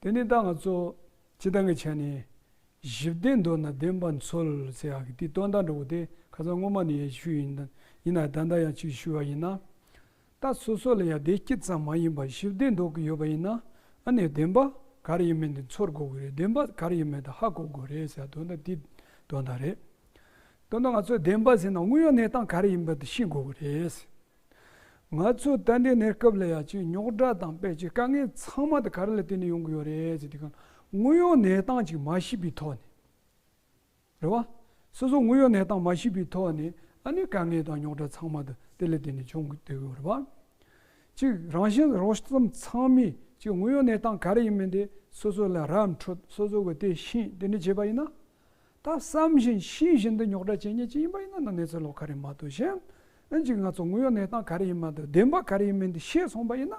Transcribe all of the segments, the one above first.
དེ་ནས་བདག་ང་གཙོ། ཅི་ལྟ་ངས་བྱས་ནས། གཞི་བདེ་འདོད་ན་བདེན་པར་མཚོལ་ཟེར་ཡག་གི་དེ་སྟོན་ཟླ་འགྲོ་བོ་དེ་ཁ་ཚ་དངོས་མ་ནི་ཡ་ཤུལ་ཡིན་ན་ཡིན་ན་ད་ལྟ་ཡང་ཅིག་ཤུལ་བ་ཡིན་ན། ད་སོ་སོ་ལ་ཡ་བདེ་སྐྱིད་ཙམ་མ་ཡིན་པར་གཞི་བདེ་འདོད་ཀྱི་ཡོད་པ་ཡིན་ན་ཨ་ནི་བདེན་པ་ག་རེ་ཡིན་མིན་དེ་མཚོལ་དགོས་ཀྱི་རེད་བདེན་པ་ག་རེ་ཡིན་མིན་དེ་ཧ་གོ་དགོས་རེད་ཟེར་སྟོན་ཟླ་དེ་སྟོན་ཟླ་རེད། སྟོན་ཟླ་ང་ཚོས་བདེན་པ་ཟེར་ན་དངོས་ཡོད་གནས་སྟངས་ག་རེ་ཡིན་པ་དེ་ཤེས་དགོས་ཀྱི་རེད། ང་ཚོའི་རྟ་མགྲིན་གནས་སྐབས་ལ་ཡ་ཆེའི་རྙོག་དྲ་དང་དཔལ་ཆེའི་དཀའ་ངལ་ཚང་མ་དེ་ག་རེ་ལ་བརྟེན་ནས་ཡོང་གི་ཡོད་རེད་ཅེས་དེ་ག་ལ་དངོས་ཡོད་གནས་སྟངས་གཅིག་མ་ཤེས་པའི་ཐོག་ནས། རེད་བ། སོ་སོ་དངོས་ཡོད་གནས་སྟངས་མ་ཤེས་པའི་ཐོག་ནས་ཨ་ནི་དཀའ་ངལ་དང་རྙོག་དྲ་ཚང་མ་དེ་དེ་ལ་བརྟེན་ནས་བྱུང་གི་འདུག་རེད་བ། གཅིག་རང་བཞིན་རོ་གསུམ་ཚང་མས་གཅིག་དངོས་ཡོད་གནས་སྟངས་ག་རེ་ཡིན་མིན་དེ་སོ་སོ་ལ་རབ་འཕྲོད་སོ་སོ་གི་དེ་ཤེས་དེ་འདྲ་བྱས་པ་ཡིན་ན། ད་བསམ་བཞིན་ཤེས་བཞིན་དུ་ཉོག་དྲ་བྱེད་ཉེས་ཅི་ཡིན་པ་ཡིན་ན་ན་གནས་ཚུལ་ལོག་ག་རེ་མ་ཏུ་བཞིན་ཨེ་འཇིག་ང་ཚོ་དངོས་ཡོད་གནས་སྟངས་ག་རེ་ཡིན་མ་ཏུ་བདེན་པ་ག་རེ་ཡིན་མིན་དུ་ཤེས་སོང་པ་ཡིན་ན།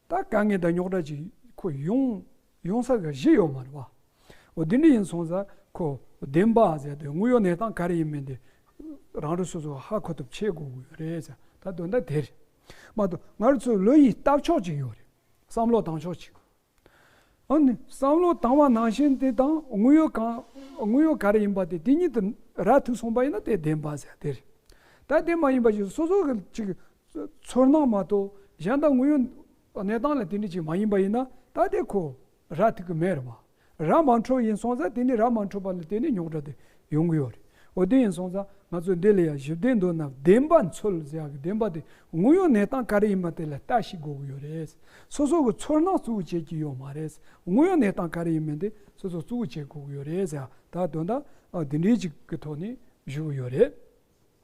ད་ག་ངས་ད་ཉོག་དྲ་བྱེད་ཁོ་ཡོང་ཡོང་ས་ག་བཞི་ཡོད་མ་རེད་བ། འོ་དེ་འདྲ་ཡིན་སོང་ཟ་ཁོ་བདེན་པ་ཟེར་དུས་དངོས་ཡོད་གནས་སྟངས་ག་རེ་ཡིན་མིན་དུ་རང་རེ་སོ་སོ་ཧ་གོ་ཐུབ་ཆེ་དགོས་གི་ཡོད་རེད་ཟ་ད་དོན་དག་དེ་རེད་མ་ཏུ་ང་རེ་ཚོའི་བློ་ཡིད་ལྟ་ཕྱོགས་ཅིག་ཡོད་རེད་བསམ་བློ་བཏང་ཕྱོགས་ཅིག་ཨཱ། བསམ་བློ་བཏང་བ་ནང་བཞིན་དེ་དང་དངོས་ཡོད་གང་དངོས་ཡོད་ག་རེ་ཡིན་པ་དེ་དེ་ཉིད་དུ་ར་ཐུག་སོང་པ་ཡིན་ན་དེ་བདེན་པ་ཟེར་དེ་རེད། ད་དེ་མ་ཡིན་པ་ཞིག་སོ་སོ་གི་ཅིག་ཚོར་སྣང་མ་གཏོགས་གཞན་དག་དངོས་ཡོད་གནས་སྟངས་ལ་དེ་འདྲ་ཅིག་མ་ཡིན་པ་ཡིན་ན་ད་དེ་ཁོ་ར་ཐུག་གི་མེད་རེད་བ། ར་མ་འཕྲོད་ཡིན་སོང་ཙང་དེ་ནི་ར་མ་འཕྲོད་པ་ལ་དེ་ནི་རྙོག་དྲ་དེ་ཡོང་གི་ཡོད་རེད། འོ་དེ་ཡིན་སོང་ཙང་ང་ཚོས་འདི་ལ་ཡང་ཞིབ་བལྟས་འདོད་ན་བདེན་པ་འཚོལ་ཟེར་ཡག་གི་བདེན་པ་དེ་དངོས་ཡོད་གནས་སྟངས་ག་རེ་ཡིན་པ་དེ་ལ་ལྟ་ཞིག་དགོས་ཀྱི་ཡོད་རེད། སོ་སོ་གི་ཚོར་སྣང་གཙོ་བོ་བྱེད་ཀྱི་ཡོད་མ་རེད། དངོས་ཡོད་གནས་སྟངས་ག་རེ་ཡིན་མིན་དེ་སོ་སོ་གཙོ་བོ་བྱེད་དགོས་ཀྱི་ཡོད་རེད། ད་དོན་དག་འདི་འདྲའི་ཅིག་གི་ཐོག་ནས་བཞུགས་ཡོད་རེད།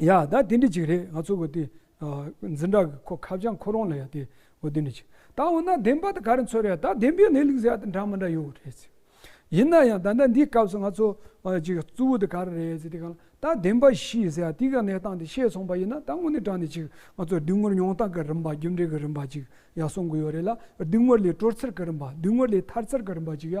ཡ། ད་དེ་འདྲི་གཅིག་རེད་ང་ཚོ་གོ་དེ། འཛིན་གྲྭ་གི་ཁོ་ཁ་བྱང་ཁོ་རང་ལ་ཡ་དེ། གོ་དེ་འདྲི་གཅིག། ད་འོ་ན་བདེན་པ་དེ་ག་རེ་འཚོལ་རེ་ཡ་ད་བདེན་པའི་གནས་ལུགས་ཟེར་ཡ་འདྲ་མི་འདྲ་ཡོད་རེད་ཟེར། ཡིན་ན་ཡང་ད་ལྟ་འདིའི་སྐབས་སུ་ང་ཚོ། གཅིག་གཙོ་བོ་དེ་ག་རེ་རེད་ཟེར་དེ་གང། ད་བདེན་པ་ཤིས་ཟེར་ཡ་དེ་ག་གནས་སྟངས་དེ་ཤེས་སོང་པ་ཡིན་ན་ད་དངོས་གནས་དྲང་ནས་གཅིག་ང་ཚོ་བདུན་ངོར་མྱོང་སྟངས་གི་རིམ་པ་རྒྱུ་འབྲས་ཀྱི་རིམ་པ་གཅིག་ཡ་གསུང་གི་ཡོད་རེད་ལ་བདུན་ངོར་ལས་དཀྲོལ་ཚུལ་གྱི་རིམ་པ་བདུན་ངོར་ལས་ཐར་ཚུལ་གྱི་རིམ་པ་གཅིག་ཡ་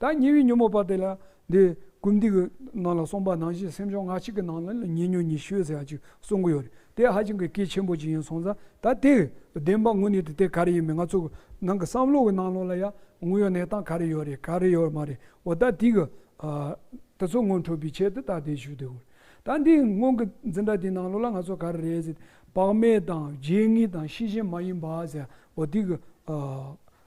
ད་ཉེ་བའི་ཉོན་མོངས་པ་དེ་ལ་འདི་ཀུན་འདུས་ཀྱི་ནང་ལ་གསུངས་པ་ནང་བཞིན་སེམས་བྱུང་ལྔ་གཅིག་གི་ནང་ལ་ཉེ་ཉོན་ཉི་ཤུ་ཟེར་བ་ཅིག་གསུང་གི་ཡོད་རེད་དེ་ཧ་ཅང་གི་གལ་ཆེན་པོ་ཅིག་ཡིན་སོང་ཙང་ད་དེ་བདེན་པ་དངོས་གནས་དེ་དེ་ག་རེ་ཡིན་མིན་ང་ཚོ་ནང་གི་བསམ་བློ་གི་ནང་ལོགས་ལ་ཡང་དངོས་ཡོད་གནས་སྟངས་ག་རེ་ཡོད་རེད་ག་རེ་ཡོད་མ་རེད་འོ་ད་དེ་གི་དེ་ཚོ་སྔོན་འཕྲོད་པའི་ཆེད་དུ་ད་དེ་ཞུས་དགོས་རེད་ད་འདི་སྔོན་གི་འཛིན་གྲྭ་དེའི་ནང་ལོགས་ལ་ང་ཚོ་ག་རེ་རེད་ཟེར་དེ་བག་མེད་དང་བརྗེད་ངེས་དང་ཤེས་བཞིན་མ་ཡིན་པ་ཟེར་འོ་དེ་གི་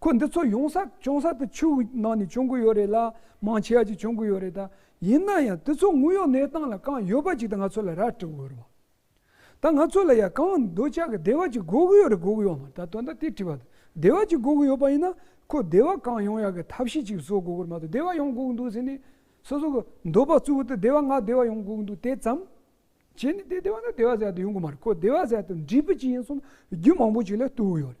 ཁོ་འདི་ཚོ་ཡོང་ས་བྱུང་ས་དེ་ཆུ་བོའི་ནང་ནས་བྱུང་གི་ཡོད་རེད་ལ་མང་ཆེ་བ་ཅིག་བྱུང་གི་ཡོད་རེད་ད། ཡིན་ན་ཡང་དེ་ཚོ་དངོས་ཡོད་གནས་སྟངས་ལ་གང་ཡོད་པ་ཅིག་དེ་ང་ཚོ་ལ་ར་སྤྲོད་དགོས་རེད་བ། ད་ང་ཚོ་ལ་ཡང་གང་འདོད་ཆགས་ཀྱི་བདེ་བ་ཅིག་དགོས་གི་ཡོད་རེད་དགོས་གི་ཡོད་མ་ད་དོན་དག་དེ་དྲིས་པ་དང་བདེ་བ་ཅིག་དགོས་གི་ཡོད་པ་ཡིན་ན་ཁོ་བདེ་བ་གང་ཡོང་ཡག་གི་ཐབས་ཤེས་ཅིག་བཟོ་དགོས་གི་རེད་མ་གཏོགས་བདེ་བ་ཡོང་དགོས་གི་འདུག་ཟེར་ནས་སོ་སོ་གི་འདོད་པ་གཙུག་བོ་དེ་བདེ་བ་ང་བདེ་བ་ཡོང་དགོས་གི་འདུག་དེ་ཙམ་བྱས་ནས་དེ་བདེ་བ་ན་བདེ་བ་ཟེར་ཡག་དེ་ཡོང་གི་མ་རེད་ཁོ་བདེ་བ་ཟེར་ཡག་དེ་འདྲིས་པ་ཅིག་ཡིན་གསུངས་ན་རྒྱུ་མང་པོ་ཅིག་ལ་ལྟོས་གི་ཡོད་རེད།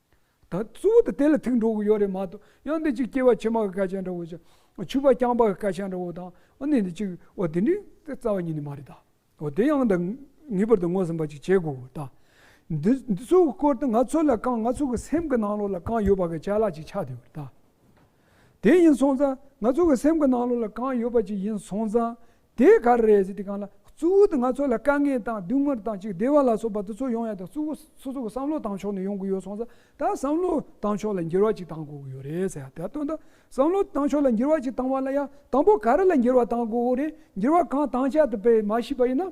ད་གཙོ་བོ་དེ་དེ་ལ་ཐུག་འགྲོ་གི་ཡོད་རེད་མ་གཏོགས་ཡང་འདི་ཅིག་སྐྱེ་བ་ཕྱི་མ་གི་སྐད་ཆ་འདྲ་བོ་ཅིག་ཆུ་བ་རྐྱང་པ་གི་སྐད་ཆ་འདྲ་བོ་དང་ཨོ་ནི་འདི་ཅིག་ཨོ་དེ་འདྲའི་རྩ་བ་ཉིད་ནི་མ་རེད་ད། ཨོ་དེ་ཡང་དང་ངེས་པར་དུ་ངོས་ཟིན་པ་ཅིག་བྱེད་དགོས་ད། འདི་འདི་ཚོའི་སྐོར་དུ་ང་ཚོ་ལ་གང་ང་ཚོ་གི་སེམས་ཀྱི་ནང་ལོགས་ལ་གང་ཡོད་པ་གི་ཆ་ལག་ཅིག་ཆགས་དུས་ད། དེ་ཡིན་སོང་ཙང་ང་ཚོ་གི་སེམས་ཀྱི་ནང་ལོགས་ལ་གང་ཡོད་པ་ཅིག་ཡིན་སོང་ཙང་དེ་ག་རེ་རེད་ཅེས་དེ་གང་ལ་གཙོ་བོ་དེ་ང་ཚོ་ལ་དཀའ་ངལ་དང་སྡུག་བསྔལ་དང་ཅིག་བདེ་བ་ལ་སོགས་པ་འདི་ཚོ་ཡོང་ཡ་དང་གཙོ་བོ་སོ་སོ་གི་བསམ་བློ་བཏང་ཕྱོགས་ནས་ཡོང་དགོས་ཡོད་སོང་ཙང་ད་བསམ་བློ་བཏང་ཕྱོགས་ལ་འགྱུར་བ་ཅིག་བཏང་དགོས་ཀྱི་ཡོད་རེད་ཟེར་ཡ་དེ་སྟོན་ད་བསམ་བློ་བཏང་ཕྱོགས་ལ་འགྱུར་བ་ཅིག་བཏང་བ་ལ་ཡང་དང་པོ་ག་རེ་ལ་འགྱུར་བ་བཏང་དགོས་ཀྱི་རེད་འགྱུར་བ་གང་བཏང་བྱ་དེ་པས་མ་ཤེས་པ་ཡིན་ན།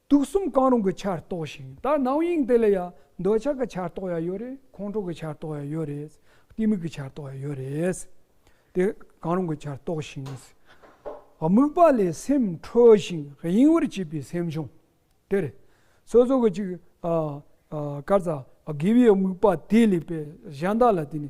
དུག་གསུམ་གང་རུང་གི་ཆར་གཏོགས་ཤིང་ད་ནང་དབྱིངས་དེ་ལ་ཡང་འདོད་ཆགས་ཀྱི་ཆར་གཏོགས་ཡ་ཡོད་རེད་ཁོང་ཁྲོ་གི་ཆར་གཏོགས་ཡ་ཡོད་རེད་གཏི་མུག་གི་ཆར་གཏོགས་ཡ་ཡོད་རེད། དེ་གང་རུང་གི་ཆར་གཏོགས་ཤིང། དམིགས་པ་ལས་སེམས་འཕྲོས་ཤིང་གཡེང་བར་བྱེད་པའི་སེམས་བྱུང། དེར་སོ་སོ་གི་ཅིག་དཀར་ཙག་དགེ་བའི་དམིགས་པ་དེ་ལས་པའི་གཞན་དག་ལ་དེ་ནི་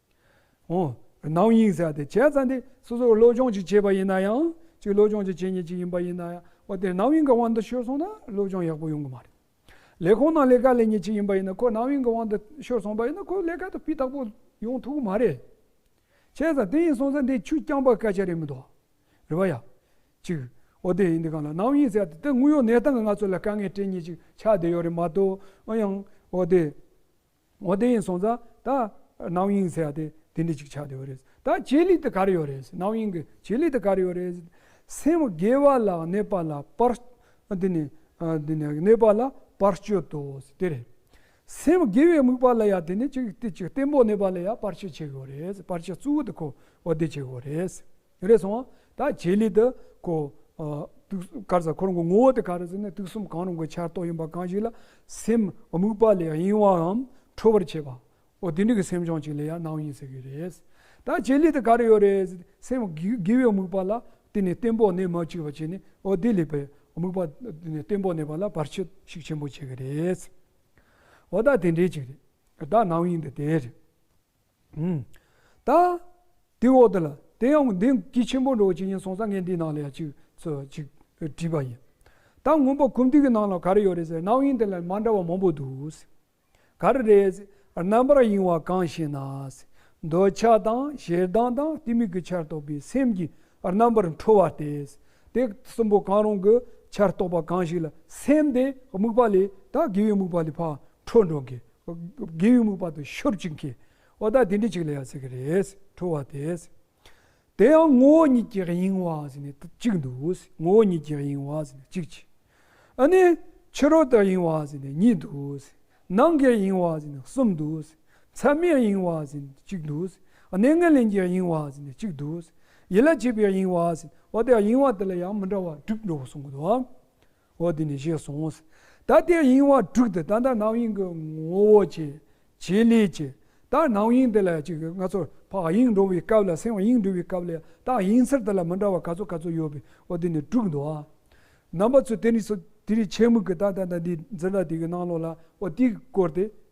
ནང་དབྱིངས་ཟེར་བ་དེ་བྱས་ཙང་དེ་སོ་སོར་བློ་སྦྱོང་ཅིག་བྱས་པ་ཡིན་ན་ཡང་ཅིག་བློ་སྦྱོང་ཅིག་བྱེད་ཉེ་ཅིག་ཡིན་པ་ཡིན་ན་ཡང་འོ་དེ་ནང་དབྱིངས་ཀྱི་དབང་དུ་ཤོར་སོང་ན་བློ་སྦྱོང་ཡག་པོ་ཡོང་གི་མ་རེད། ལས་ཁོ་ན་ལས་ཀ་ལས་ཉེ་ཅིག་ཡིན་པ་ཡིན་ན་ཁོ་ནང་དབྱིངས་ཀྱི་དབང་དུ་ཤོར་སོང་པ་ཡིན་ན་ཁོ་ལས་ཀ་དེ་སྤུས་དག་པོ་ཡོང་ཐུབ་གི་མ་རེད། བྱས་ཙང་དེ་ཡིན་སོང་ཙང་དེ་ཆུ་རྐྱང་པ་སྐད་ཆ་རེད་མི་འདུག་རེད་པ་ཡ། ཅིག་འོ་དེ་ཡིན་དུས་གང་ལ་ནང་དབྱིངས་ཟེར་བ་དེ་དེ་དངོས་ཡོད་གནས་སྟངས་ཀྱི་ང་ཚོ་ལ་དཀའ་ངལ་སྤྲད་ཉེ་ཅིག་ཆགས་བསྡད་ཡོད་རེད་མ་གཏོགས་ཨང་ཡང་འོ་དེ། ངོ་བདེ་ཡིན་སོང་ཙང་ད་རྣམ་གཡེང་ཟེར་བ་དེ་དེ་འདྲི་ཅིག་ཆགས་ཡོད་རེད་ད་ཇེ་ལེགས་དུ་གར་ཡོད་རེད་རྣམ་གཡེང་གི་ཇེ་ལེགས་དུ་གར་ཡོད་རེད་སེམས་དགེ་བ་ལ་གནས་པ་ལ་པར་འདི་ནི་འདི་ནི་གནས་པ་ལ་པར་སྤྱོད་དོ་དེ་རེད་སེམས་དགེ་བའི་དམིགས་པ་ལ་ཡང་དེ་ནི་གཅིག་བསྟེན་པོ་གནས་པ་ལ་ཡང་པར་སྤྱོད་བྱེད་དགོས་རེད་པར་སྤྱོད་གཙོ་བོ་དེ་ཁོ་བོ་བདེ་བྱེད་དགོས་རེད། རེ་སོང་བ། ད་བྱེད་ལས་དུ་གོ། དཀར་གཟའ་འཁོར་འགོ་ངོ་བོ་དུ་ག་རུ་ཟིན་ནས་དུག་གསུམ་གང་རུང་གི་ཆར་གཏོགས་ཡིན་པ་གང་ཞིག་ལ་སེམས་དམིགས་པ་ལས་གཡེང་བའམ་འཕྲོ་བར་བྱེད་པའོ། དེ་འདྲ་གི་སེམས་བྱུང་ཅིག་ལ་ཡང་སྣང་ཡིན་ཟེར་གྱི་རེད། ད་བྱེད་ལས་དུ་ག་རུ་ཡོད་རེད་ཟེར་ཏེ་སེམས་དགེ་བའི་དམིགས་པ་ལ་བརྟེན་ནས་བརྟན་པོ་གནས་མ་བཅུག་པ་བྱས་ནས་འོ་དེ་ལས་པའི་དམིགས་པ་བརྟེན་ནས་བརྟན་པོ་གནས་པ་ལ་བར་ཆད་ཞིག་ཆེན་པོ་བྱེད་ཀྱི་རེད། འོ་ད་དེ་འདྲའི་ཅིག་རེད། ད་སྣང་ཡིན་དུ་དེ་རེད། ད་དེའི་འོག་ཏུ་ལ་དེ་ཡང་འདི་སྐྱིད་ཆེན་པོ་འགྲོ་བ་ཇི་སྙེད་གསུངས་ས་ངས་འདིའི་ནང་ལ་ཡང་ཅིག་ཅིག་བྲིས་པ་ཡིན། ད་སྔོན་པོ་གུམ་ཐིག་གི་ནང་ལ་ག་རེ་ཡོད་རེད་ཟེར་ན་གནའ་དབྱིངས་དེ་ལ་མ་འདྲ་བ་མང་པོ་འདུག། ག་རེ་རེད་ཟེར་རྣམ་པར་གཡེང་བ་གང་ཞེ་ན། འདོད་ཆགས་དང་ཞེ་སྡང་དང་གཏི་མུག་གི་ཆར་གཏོགས་པའི་སེམས་ཀྱི་རྣམ་པར་འཕྲོ་བ་སྟེ། དེ་གསུམ་པོ་གང་རུང་གི་ཆར་གཏོགས་པ་གང་ཞིག་ལ་སེམས་དེ་དམིགས་པ་ལས་ད་དགེ་བའི་དམིགས་པ་ལས་འཕགས་འཕྲོ་འགྲོ་དགོས། དགེ་བའི་རྨུགས་པ་དང་ཤོབ་ཅིག་མཁས། ཨོ་ད་དེ་འདྲི་ཅིག་ལ་ཡང་ཟེར་གྱི་རེད། ཁྲོ་བ་དེས། དེ་ཡང་ངོ་བོ་ཉིད་ཀྱི་དབྱིངས་བ་ཟེར་ནས་གཅིག་འདུག་ངོ་བོ་ཉིད་ཀྱི་དབྱིངས་བ་ཟེར་ནས་གཅིག་གྱིས། ཨ་ནི། ཕྱི་རོལ་ཏུ་དབྱིངས་བ་ཟེར་ནས་གཉིས་འདུག། ནང་གི་དབྱིངས་བ་ཟེར་ནས་གསུམ་འདུག། མཚན་མའི་དབྱིངས་བ་ཟེར་ནས་གཅིག་འདུག། གནས་ངན་ལེན་གྱི་དབྱིངས་བ་ཟེར་ནས་གཅིག་འདུག། ཡིད་ལ་བྱེད་པའི་དབྱིངས་བ་ཟེར་ནས་ཨོ་ད་དབྱིངས་བ་དེ་ལ་ཡང་མི་འདྲ་བ་དྲུག་འགྲོ་གསུངས་གོ། འོ་དེ་ནས་བཞེས་སོང་ངོ། ད་ལྟའི་དབྱིངས་དབང་དྲུག་དེ་ད་ལྟ་སྣང་དབྱིངས་ཀྱི་ངོ་བོ་ཅན་བྱེད་ལས་ཀྱི། ད་སྣང་དབྱིངས་དེ་ལ་ཅིག་ང་ཚོར་འཕགས་དབྱིངས་འགྲོ་བའི་སྐབས་ལ་སེམས་དབྱིངས་འགྲོ་བའི་སྐབས་ལ་ཡང་རྟགས་དབྱིངས་ཚུལ་དེ་ལ་མི་འདྲ་བ་ག་ཚོད་ག་ཚོད་ཡོད་པས་འོ་དེ་ནས་དྲུག་འདུག་ཨ། རྣམ་པ་ཚོས་དེ་རིགས་སོ། དེ་རིགས་ཆེད་དམིགས་ཀྱི་ད་ལྟ་ད་ལྟའི་འཛིན་གྲྭ་དེ་གའི་སྣང་ལོག་ལ་འོ་དེའི་སྐོར་དེ།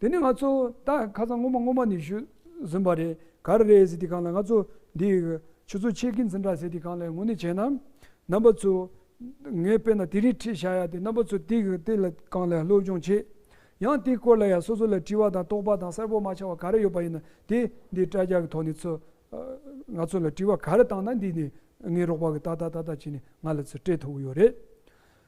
དེ་ནི་ང་ཚོ་ད་ཁ་སང་སྔོན་མ་སྔོན་མ་ནས་ཞུས་ཟིན་པ་རེད་ག་རེ་རེད་ཟེར་དེ་གང་ལ་ང་ཚོ་འདི་ཆུ་ཚོད་ཕྱེད་ཀི་འཛིན་གྲྭ་ཟེར་དེ་གང་ལ་ངོ་ནས་བྱས་ན་རྣམ་པ་ཚོ་ངས་དཔེ་ན་དེ་རིང་ཁྲིད་བཞག་ཡ་དེ་རྣམ་པ་ཚོ་དེ་དེ་ལ་གང་ལ་སློབ་སྦྱོང་བྱེད་ཡང་དེ་སྐོར་ལ་ཡང་སོ་སོ་ལ་དྲི་བ་དང་རྟོག་པ་དང་གསལ་པོ་མ་ཆགས་པ་ག་རེ་ཡོད་པ་ཡིན་ན་དེ་འདི་དྲ་རྒྱ་གི་ཐོག་ནས་ཚོ་ང་ཚོ་ལ་དྲི་བ་ག་རེ་བཏང་ན་འདི་ནས་ངའི་རོགས་པ་གི་ད་ད་ད་ད་བྱས་ནས་ང་ལ་ཚོ་སྤྲད་ཐུབ་ཀི་ཡོད་རེད།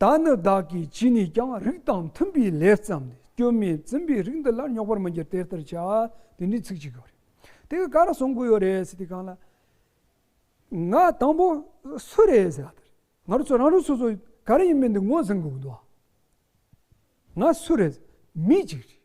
ད་ནི་བདག་གིས་བྱིན་ནས་ཀྱང་རིགས་དང་མཐུན་པའི་ལས་བརྩམས་ནས་སྐྱོན་མེད་འཛིན་པའི་རིགས་འདི་ལ་རྙོག་པར་མི་འགྱུར་དེ་ལྟར་བྱ། དེ་འདྲའི་ཚིག་ཅིག་གོ། དེ་ག་རང་གསུང་དགོས་ཡོད་རེད་ཟེར་དུས་གང་ལ། ང་དང་པོ་སུ་རེད་ཟེར་བ་དེར་ང་རང་ཚོ་རང་རང་སོ་སོ་ག་རེ་ཡིན་མིན་འདི་ངོས་ཟིན་དགོས་ཀྱི་འདུག་ང་སུ་རེད་མི་གཅིག་རེད།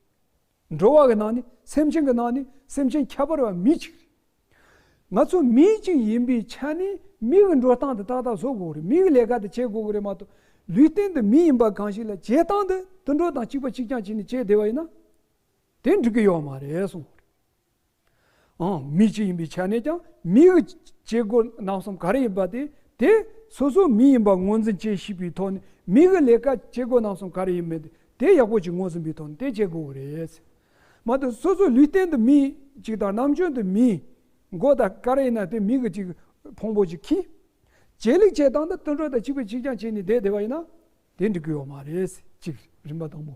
འགྲོ་བ་གི་ནང་ནས་སེམས་ཅན་གི་ནང་ནས་སེམས་ཅན་ཁྱད་པར་བ་མི་གཅིག་རེད། ང་ཚོ་མི་གཅིག་ཡིན་པའི་ཆ་ནས་མི་གི་འགྲོ་སྟངས་དེ་ཏག་ཏག་བཟོ་དགོས་རེད་མི་གི་ལས་ཀ་དེ་བྱེད་དགོས་རེད་མ་གཏོགས་ལུས་སྟེང་དུ་མི་ཡིན་པ་གང་ཞིག་ལ་བྱེད་སྟངས་དེ་དུད་འགྲོ་དང་གཅིག་པ་གཅིག་རྐྱང་བྱས་ནས་བྱེད་བདེ་བ་ཡིན་ན་དེ་འགྲིག་གི་ཡོད་མ་རེད་གསུངས། ཨང། མི་གཅིག་ཡིན་པའི་ཆ་ནས་ཀྱང་མིའི་བྱེད་སྒོ་རྣམ་གསུམ་ག་རེ་ཡིན་པ་དེ་དེ་སོ་སོའི་མི་ཡིན་པ་ངོས་འཛིན་བྱེད་ཤེས་པའི་ཐོག་ནས་མིའི་གི་ལས་ཀ་བྱེད་སྒོ་རྣམ་གསུམ་ག་རེ་ཡིན་མིན་དེ་ཡག་པོ་ཅིག་ངོས་ཟིན་པའི་ཐོག་ནས་དེ་བྱེད་དགོས་རེད། མ་ཏོག་སོ་སོའི་ལུས་སྟེང་དུ་མི་གཅིག་དང་རྣམ་དཔྱོད་དུ་མིའི་མགོ་དང་ཀ་རེ་ཡིན་ན་དེ་མི་གི་གཅིག་ཕུང་པོ་ཅིག་གིས་ཇེ་ལེགས་ཇེ་བཏང་དུ་བརྩོན་འགྲུས་དང་གཅིག་པུས་གཅིག་རྐྱང་བྱས་ནས་བསྡད་བསྡད་པ་ཡིན་ན་དེ་འགྲིག་གི་ཡོད་མ་རེད་གཅིག་རིམ་པ་དང་པོ།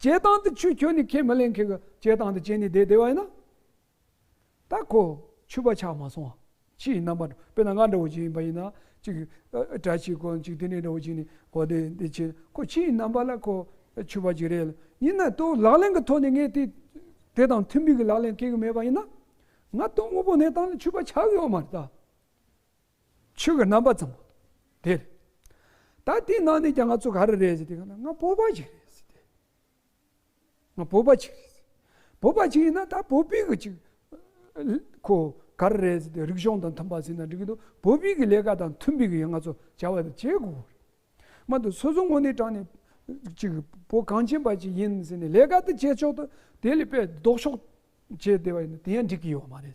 བྱེད་སྟངས་དེ་ཆུ་ཁྱོད་ནི་ཁས་མི་ལེན་མཁན་གྱི་བྱེད་སྟངས་དེ་བྱས་ནས་བསྡད་བསྡད་བ་ཡིན་ན། ད་ཁོ་ཆུ་པ་ཆགས་མ་སོང་ཨ། ཕྱི་ཡི་རྣམ་པ་འདྲ་དཔེར་ན་ང་འདྲ་བོ་ཅིག་ཡིན་པ་ཡིན་ན་ཅིག་གྲྭ་ཞིག་གོ་ཅིག་དེ་ནས་འདྲ་བོ་ཅིག་ནས་གོ་དེ་འདི་བྱས་ན་ཁོ་ཕྱི་ཡི་རྣམ་པ་ལ་ཁོ་ཆུ་པ་ཅིག་རེད་ལ་ཡིན་ན་དོ་ལག་ལེན་གྱི་ཐོག་ནས་ངས་དེ་དེ་དང་མཐུན་མིན་གྱི་ལག་ལེན་སྐྱེལ་གྱི་མེད་པ་ཡིན་ན། ང་དོན་དངོས་པོ་གནས་སྟངས་ལ་ཆུ་པ་ཆགས་ཡོད་མ་རེད་ད། ཆོས་ཀྱི་རྣམ་པ་ཙམ་མོ། དེ་རེད། ད་དེ་ནང་ནས་ཀྱང་ང་ཚོ་ག་རེ་རེད་ཟེར་དེ་ག་ན་ང་བོད་པ་ཅིག་རེད་ཟེར་དེ། ང་བོད་པ་ཅིག་རེད། བོད་པ་ཅིག་ཡིན་ན་ད་བོད་པའི་གི་ཅིག་ཁོ་ག་རེ་རེད་ཟེར་དེ་རིག་གཞུང་དང་མཐུན་པ་ཟེར་ན་འགྲིག་གི་འདུག་བོད་པའི་གི་ལས་ཀ་དང་མཐུན་པའི་གི་ང་ཚོ་བྱ་བ་དེ་བྱེད་དགོས་རེད། མ་འདུག་སོ་སོ་ངོ་ནས་དྲང་ནས་ཅིག་བོད་གངས་ཅན་པ་ཅིག་ཡིན་ཟེར་ནས་ལས་ཀ་དེ་བྱེད་ཆོག་ཏུ་དེ་ལས་པས་ལྡོག་ཕྱོགས་བྱས་བསྡད་པ་ཡིན་ན་དེ་ཡང་འགྲིག་གི་ཡོད་མ་རེད།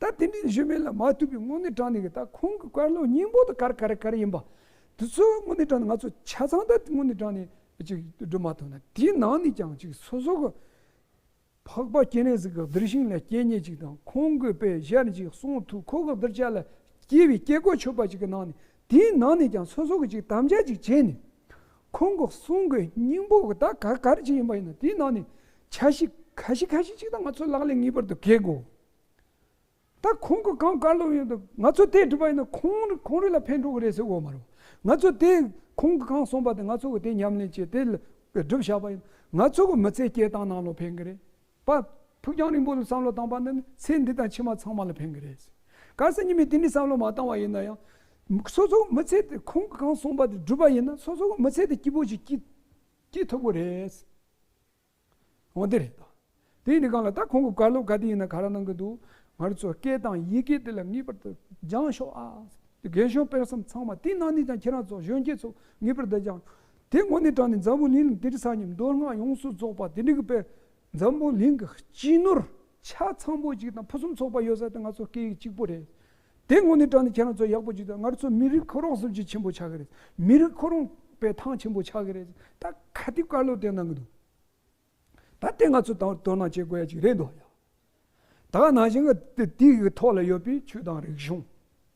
ད་དེ་འདྲའི་གཞོན་མེད་ལ་མ་ཐུག་པའི་དངོས་གནས་དྲང་གནས་ཀྱི་ད་ཁོང་གི་དཀར་ལོ་སྙིང་པོ་དང་གར་གར་གར་ཡིན་པ། དེ་ཚོ་དངོས་གནས་དྲང་གནས་ང་ཚོ་ཆ་ཚང་ད་དངོས་གནས་དྲང་གནས་ཅིག་སྒྲུབ་མ་ཐུབ་ན་དེའི་ནང་ནས་ཀྱང་ཅིག་སོ་སོ་གི་འཕགས་པ་སྐྱེ་གནས་སུ་ག་བདེར་ཞིང་ལ་སྐྱེ་ཉེ་ཅིག་དང་ཁོང་གི་དཔེ་གཞིར་ཅིག་གསུང་ཐུགས་ཁོ་ག་བདེར་ཆ་ལ་སྐྱེ་བའི་སྐྱེ་སྒོ་ཆོད་པ་ཅིག་གི་ནང་ནས་དེའི་ནང་ནས་ཀྱང་སོ་སོ་གི་ཅིག་དམ་བཅའ་ཅིག་བྱས་ནས་ཁོང་གི་གསུང་གི་སྙིང་པོ་དག་ག་གར་གྱི་ཡིན་པ་ཡིན་ནམ་དེའི་ནང་ནས་ཆ་ཤིག་ཁ་ཤིག་ཁ་ཤིག་ཅིག་དང་ང་ཚོ་ལག་ལས་ངེས་པར་དུ་གེགས་དགོས། ད་ཁོང་གི་གང་བཀའ་སློབ་ཡོད་དུ་ང་ཚོ་དེ་སྒྲུབ་པ་ཡིན་ན་ཁོང་ཁོང་རིགས་ལ་ཕན་འགྲོ་གི་རེད་ཟེར་འོ་མ་རུང། ང་ཚོ་དེ་ཁོང་གི་གང་གསུངས་པ་དེ་ང་ཚོ་གི་དེ་ཉམས་ལེན་བྱེད་དེ་སྒྲུབ་བཞག་པ་ཡིན་ན་ང་ཚོ་གི་མི་ཚེ་སྐྱེལ་སྟངས་ནང་ལོག་ཕན་གི་རེད། པ། ཕུགས་རྒྱང་རིང་པོ་ལ་བསམ་བློ་བཏང་པ་འདི་ནི་ཚེ་འདི་དང་ཕྱི་མ་ཚང་མ་ལ་ཕན་གི་རེད། གལ་སྲིད་ཉིན་མོའི་དུས་འདིར་བསམ་བློ་མ་བཏང་བ་ཡིན་ན་ཡང། སོ་སོ་མི་ཚེ་དེ་ཁོང་གིས་གང་གསུངས་པ་དེ་བསྒྲུབས་པ་ཡིན་ན་སོ་སོའི་མི་ཚེ་དེ་སྐྱིད་པོ་ཞིག་སྐྱིད་སྐྱིད་ཐུབ་གི་རེད། འོ་དེ་རེད་ད། དེ་ནི་གང་ལ་ད་ཁོང་གི་བཀའ་སློབ་ག་དུས་ཡིན་ན་ག་ར་གནང་གི་འདུག་ང་རོ་ཚོའི་སྐད་དང་ཡི་གེ་དེ་ལ་ངེས་པར་དུ་སྦྱང་ཤོག་ཨ། དགེ་སྦྱོང་སྤེལ་གསུམ་ཚང་མ་དེ་ནང་ནས་ཀྱང་ཁྱེད་རང་ཚོ་གཞོན་སྐྱེས་ཚོ་ངེས་པར་དུ་སྦྱང། དེ་དངོས་གནས་དྲངས་ནས་འཛམ་བུ་གླིང་ལ་དེ་རིང་སྙིང་མདོ་སྔགས་ཡོངས་སུ་རྫོགས་པ་དེ་འདྲི་གི་དཔེར་འཛམ་བུ་གླིང་གི་སྤྱི་ནོར་ཆ་ཚང་པོ་གཅིག་དང་ཕུན་སུམ་ཚོགས་པ་ཡོད་ས་དེ་ང་ཚོ་སྐད་ཡིག་གཅིག་པོ་རེད། དེ་དངོས་གནས་དྲངས་ནས་ཁྱེད་རང་ཚོ་ཡག་པོ་གཅིག་དང་སྔར་ཚོ་མི་རིགས་ཁོ་རང་གསུམ་གྱིས་ཆེན་པོ་ཆགས་ཀྱི་རེད། མི་རིགས་ཁོ་རང་པས་ཐང་ཆེན་པོ་ཆགས་ཀྱི་རེད། ད་ག་དུས་བཀའ་སློབ་དེ་གནང་གི་འདུག་ད་དེ་ང་ཚོ་དང་དོ་སྣང་བྱེད་དགོས་ཡ་གཅིག་རེད་འདོད་ཡ། ད་ག་ནང་བཞིན་དེ་དུས་ཀྱི་ཐོག་ལ་ཡོད་པའི་ཆོས་དང་རིག་གཞུང།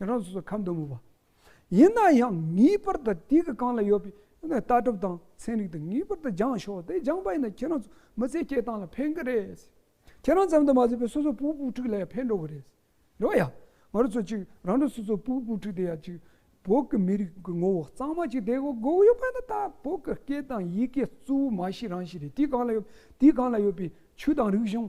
ང་རང་སོ་སོར་ཁ་འདོན་མོད་པ། ཡིན་ན་ཡང་ངེས་པར་དུ་དུས་ཀྱི་རྐང་ལ་ཡོད་པའི་ལྟ་གྲུབ་དང་ཚན་རིག་དེ་ངེས་པར་དུ་སྦྱངས་ཤོག་དེ་སྦྱངས་པ་ཡིན་ན་ཁྱེད་རང་ཚོ་མི་ཚེ་སྐྱེལ་སྟངས་ལ་ཕན་གི་རེད། ཁྱེད་རང་ཙམ་དུ་མ་བཟོད་པའི་སོ་སོའི་བུ་བུ་ཕྲུག་ལ་ཡང་ཕན་འགྲོ་གི་རེད། འགྲོ་ཡ། ང་རོ་ཚོ་གཅིག་རང་ཁྲོད་སོ་སོའི་བུ་བུ་ཕྲུག་དེ་ཡང་གཅིག་བོད་ཀྱི་མི་རིགས་ཀྱི་ངོ་བོ་གཙང་མ་གཅིག་དེ་གོ་དགོས་ཡོད་པ་ཡིན་ན་ད་བོད་ཀྱི་སྐད་དང་ཡི་གེ་གཙོ་བོ་མ་གཞི་རང་གཞི་རེད་དུས་གང་ལ་ཡོད་དུས་གང་ལ་ཡོད་པའི་ཆོས་དང་རིག་གཞུང་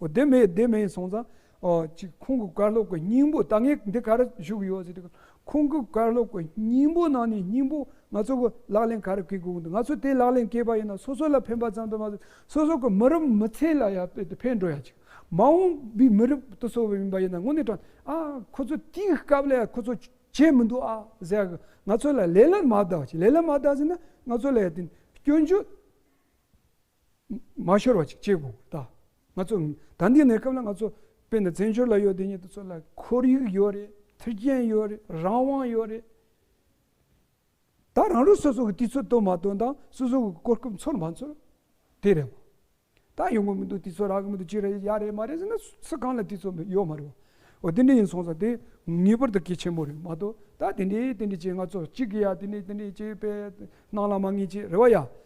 བདེན་མེད་བདེན་མེད་སོང་ཙང། ཅིག་ཁོང་གི་བཀའ་སློབ་ཀྱི་སྙིང་པོ་ད་ངས་འདི་ག་རེ་ཞུ་གི་ཡོད་ཟེར། ཁོང་གི་བཀའ་སློབ་ཀྱི་སྙིང་པོ་ནང་ནས་སྙིང་པོ་ང་ཚོ་གི་ལག་ལེན་ག་རེ་བཀལ་དགོས་འདུག་ང་ཚོ་དེ་ལག་ལེན་བཀལ་པ་ཡིན་ན་སོ་སོ་ལ་ཕན་པ་ཙམ་དུ་མ་ཟད་སོ་སོ་གི་མི་རབས་མི་ཚེ་ལ་ཡང་ཕན་འགྲོ་ཡ་ཅིག་མ་འོངས་པའི་མི་རབས་དུ་གསོ་བ་ཡིན་པ་ཡིན་ན་དངོས་གནས་དྲང་ཨ་ཁོ་ཚོ་དེའི་སྐབས་ལ་ཡང་ཁོ་ཚོ་བྱས་མི་འདུག་ཨ་ཟེར་ཡ་གི་ང་ཚོ་ལ་ལས་ལ་མ་བདག་ཅིག་ལས་ལ་མ་བདག་ཟེར་ན་ང་ཚོ་ལ་ཡང་དེ་སྐྱོན་བརྗོད། མ་ཤོར་བ་ཅིག་གཅེས་དགོས་ད། ང་ཚོ་ད་འདི་ནས་སྐབས་ལ་ང་ཚོ་དཔེ་ན་བཙན་བྱོལ་ལ་ཡོད་དེ་ཉིད་དུ་ཚོ་ལ་ཁོར་ཡུག་ཡོད་རེད་མཐུན་རྐྱེན་ཡོད་རེད་རང་དབང་ཡོད་རེད། ད་རང་ལུས་སོ་སོ་གི་དུས་ཚོད་སྟོན་མ་སྟོན་དང་སོ་སོ་གི་གོ་སྐབས་འཚོལ་མ་འཚོལ་དེ་རེད་བ། ད་ཡོང་གི་མི་འདུག་དུས་ཚོད་རག་གི་མི་འདུག་ཅི་རེད་ཡག་རེད་མ་རེད་ཟེར་ན་སུ་གང་ལ་དུས་ཚོད་མེད་ཡོད་མ་རེད་བ། འོ་དེ་འདྲ་ཡིན་སོང་ཙང་དེ་ངེས་པར་དུ་གལ་ཆེན་པོ་རེད་མ་གཏོགས་ད་དེ་འདྲས་དེ་འདྲས་ཀྱིས་ང་ཚོ་གཅིག་གི་ཡ་དེ་འདྲས་དེ་འདྲས་ཀྱིས་དཔེ་སྣང་ལ་མ་ངེས་ཀྱི་རེད་བ་ཡ།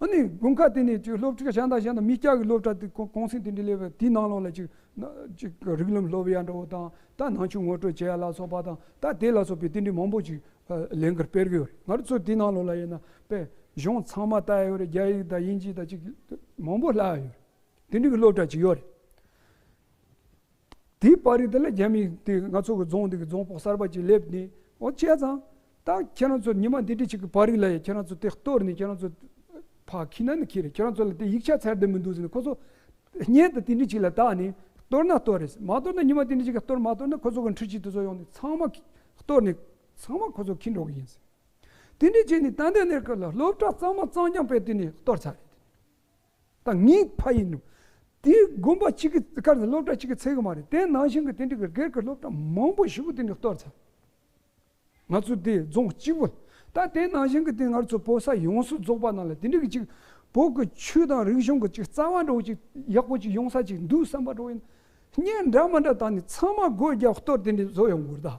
ཨ་ནི་དགུན་ཁ་དེ་ནས་ཅིག་སློབ་ཕྲུག་གཞན་དང་གཞན་དང་མི་སྐྱ་གི་སློབ་གྲྭ་དེ་གོང་གསེང་དེ་འདྲའི་ལས་པའི་དེའི་ནང་ལོགས་ལ་ཅིག་ཅིག་རིགས་ལམ་སློབ་ཡ་འདྲ་བོ་དང་ད་ནང་ཆོས་ངོ་སྤྲོད་བྱེད་ཡ་ལ་སོགས་པ་དང་ད་དེ་ལ་སོགས་པའི་དེ་འདྲའི་མང་པོ་ཅིག་ལས་འགར་སྤེལ་གི་ཡོད་རེད་ང་རོ་ཚོ་དེའི་ནང་ལོགས་ལ་ཡིན་ན་དཔེ་གཞུང་ཚང་མ་ལྟ་ཡ་ཡོད་རེད་རྒྱ་ཡིག་དང་དབྱིན་ཇི་དང་ཅིག་མང་པོ་བསླ་ཡ་ཡོད་རེད་དེ་འདྲའི་གི་སློབ་གྲྭ་ཅིག་ཡོད་རེད། དེའི་པར་རིས་དེ་ལ་རྒྱ་མིས་དེ་ང་ཚོ་གི་རྫོང་འདི་གི་རྫོང་ཕོགས་གསར་པ་ཅིག་སླེབས་ནས་ཨོ་བྱས་ཙང། ད་ཁྱེད་རང་ཚོ་ཉི་མ་འདི་འདྲི་ཞིག་གི་པར་རིས་ལ་ཡང་ཁྱེད་རང་ཚོ་དེ་གཏོར་ནས་ཁྱེད་རང་ཚོ་ཕ་ཁི་ན་ནི་ཁི་རེད་ཁྱེད་རང་ཚོ་ལ་དེ་ཡིག་ཆ་ཚད་ལྡན་མི་འདུག་ཟེར་ནས་ཁོ་ཚོ་བརྙན་དང་དེ་འདྲི་ཞིག་ལ་བཏགས་ནས་གཏོར་ན་གཏོར་རེས་མ་གཏོར་ན་ཉི་མ་དེ་འདྲི་ཞིག་གི་གཏོར་མ་གཏོར་ན་ཁོ་ཚོ་གི་འཁྲི་ཆུ་དེ་ཚོ་ཡོང་ནས་ཚང་མ་གཏོར་ནས་ཚང་མ་ཁོ་ཚོ་ཁི་འགྲོ་གི་ཡིན་ཟེར། དེ་འདྲི་བྱས་ནས་ཏན་ཏན་ནས་སློབ་གྲྭ་གཙང་མ་གཙང་རྐྱང་སྤེལ་དུས་ནས་གཏོར་ཚར་རེད་དེ། ད་ངའི་ཕ་ཡིན་ནོ། དེའི་དགོན་པ་གཅིག་གི་ཁར་ནི་སློབ་གྲྭ་གཅིག་གི་ཚད་ཀྱི་མ་རེད། དེ་ནང་བཞིན་གྱི་དེ་འདྲ་གི་སྒེར་གྱི་སློབ་གྲྭ་མང་པོ་ཞིག་གི་དེ་འདྲ་གཏོར་ཚར། ང་ཚོ་དེ་རྫོང་གཅིག་པོ། ད་དེ་ནང་བཞིན་གྱི་དེ་སྔར་ཚོ་བོད་ས་ཡོངས་སུ་རྫོགས་པ་རྣམས་ལ་དེ་འདྲ་གི་གཅིག་བོད་ཀྱི་ཆོས་དང་རིག་གཞུང་གི་གཅིག་རྩ་བ་འདྲ་བོ་གཅིག་ཡག་པོ་གཅིག་ཡོང་ས་གཅིག་འདུག་བསམ་པ་འདྲ་བོ་ཡིན། གཉེན་འདྲ་མི་འདྲ་ད་ནི་ཚང་མ་སྒོས་རྒྱབ་གཏོར་དེ་འདྲ་བཟོ་ཡོང་དགོས་རེད་ད།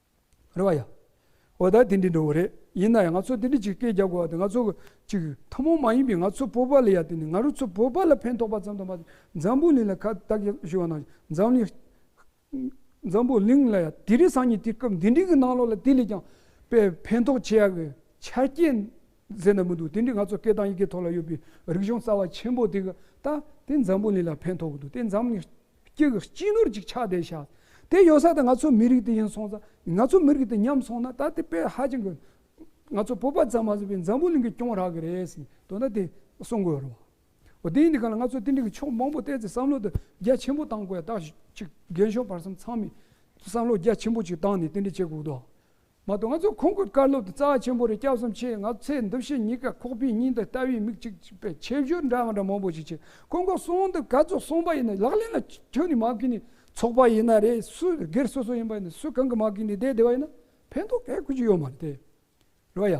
རེད་བ་ཡ། འོ་ད་དེ་འདྲའི་འགྲོ་བ་རེད་ཡིན་ན་ཡང་ང་ཚོ་དེ་འདྲའི་ཅིག་སྐད་རྒྱག་དགོས་བ་དེ་ང་ཚོ་ཅིག་ཐ་མོ་མ་ཡིན་པའི་ང་ཚོ་བོད་པ་ལ་ཡ་དེ་ནི་ང་རུ་ཚོ་བོད་པ་ལ་ཕན་ཐོག་པ་ཙམ་དང་མ་འཛམ་བུ་གླིང་ལ་ཁ་བཏགས་ཞིག་བཞུ་བ་ན་འཛམ་གླིང་འཛམ་བུ་གླིང་ལ་ཡ་དེ་རིགས་སང་ཉིན་དེ་སྐབས་འདི་འདྲིའི་གི་ནང་ལོག་ལ་དེ་ལས་ཀྱང་པའི་ཕན་ཐོག་ཆེ་ཡག་གི་ཆ་རྐྱེན་ཟེར་ན་མི་འདུག་དེ་འདྲིའི་ང་ཚོ་སྐད་དང་ཡི་གེ་ཐོག་ལ་ཡོད་པའི་རིག་གཞུང་རྩ་བ་ཆེན་པོ་དེ་གི་ད་དེ་འཛམ་བུ་གླིང་ལ་ཕན་ཐོག་གི་འདུག་དེ་འཛམ་གླིང་སྐྱེ་གི་སྤྱི་ནོར་ཅིག་ཆགས་བསྡད་བཞག་དེ་ཡོད་ས་དེ་ང་ཚོ་མི་རིགས་དེ་ཡིན་སོང་ཙང་ང་ཚོ་མི་རིགས་དེ་ཉམས་སོང་ན་ད་དེ་དཔེ་ཧ་ཅང་གི་ང་ཚོ་བོད་པ་ཙམ་མ་ཟད་པའི་འཛམ་བུ་གླིང་གི་སྐྱོང་རག་གི་རེད་ཟེར་ནས་དོན་དག་དེ་གསུང་དགོས་རུང་བ་དེ་ཡིན་དེ་ག་ལ་ང་ཚོ་དེ་འདྲ་གི་ཕྱོགས་མང་པོ་བལྟས་ཚེ་བསམ་བློ་དེ་རྒྱ་ཆེན་པོ་བཏང་དགོས་ཡ་ད་ཅིག་རྒན་གཞོན་བར་གསུམ་ཚང་མས་བསམ་བློ་རྒྱ་ཆེན་པོ་ཅིག་བཏང་ནས་དེ་འདྲ་བྱེད་དགོས་དོ། མ་གཏོགས་ང་ཚོ་ཁོང་གི་བཀའ་སློབ་དེ་རྩ་བ་ཆེན་པོ་རེད་སྐྱབས་སུམ་ཆེད་ང་ཚོ་ཚེ་འདི་བཞིན་གཉིས་ཀ་ཁོག་པའི་སྙིང་དང་ལྟ་བའི་མིག་གཅིག་པའི་ཆེ་བཞུགས་འདྲ་འདྲ་མང་པོ་ཞིག་བྱས་ཁོང་གི་གསུང་འདི་ག་ཚོད་གསུངས་པ་ཡིན་ན་ལག་ལེན་ལ་ཁྱོན་ནས་མ་བཀུས་ནས་ཚོགས་པ་ཡིན་ན་རེད་སུ་སྒེར་སོ་སོ་ཡིན་པ་ཡིན་ན་སུ་གང་གིས་མ་བཀུས་ནས་བསྡད་བསྡད་པ་ཡིན་ན་ཕན་ཐོག་ག་ཁུ་ཅི་ཡོད་མ་རེད་དེ་རོ་ཡ།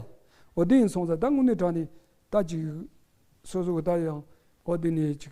འོ་དེ་ཡིན་སོང་ཙང་ད་དངོས་གནས་དྲང་ནས་ད་ཅིག་སོ་སོ་གི་ད་ཡང་འོ་དེ་ནས་ཅིག།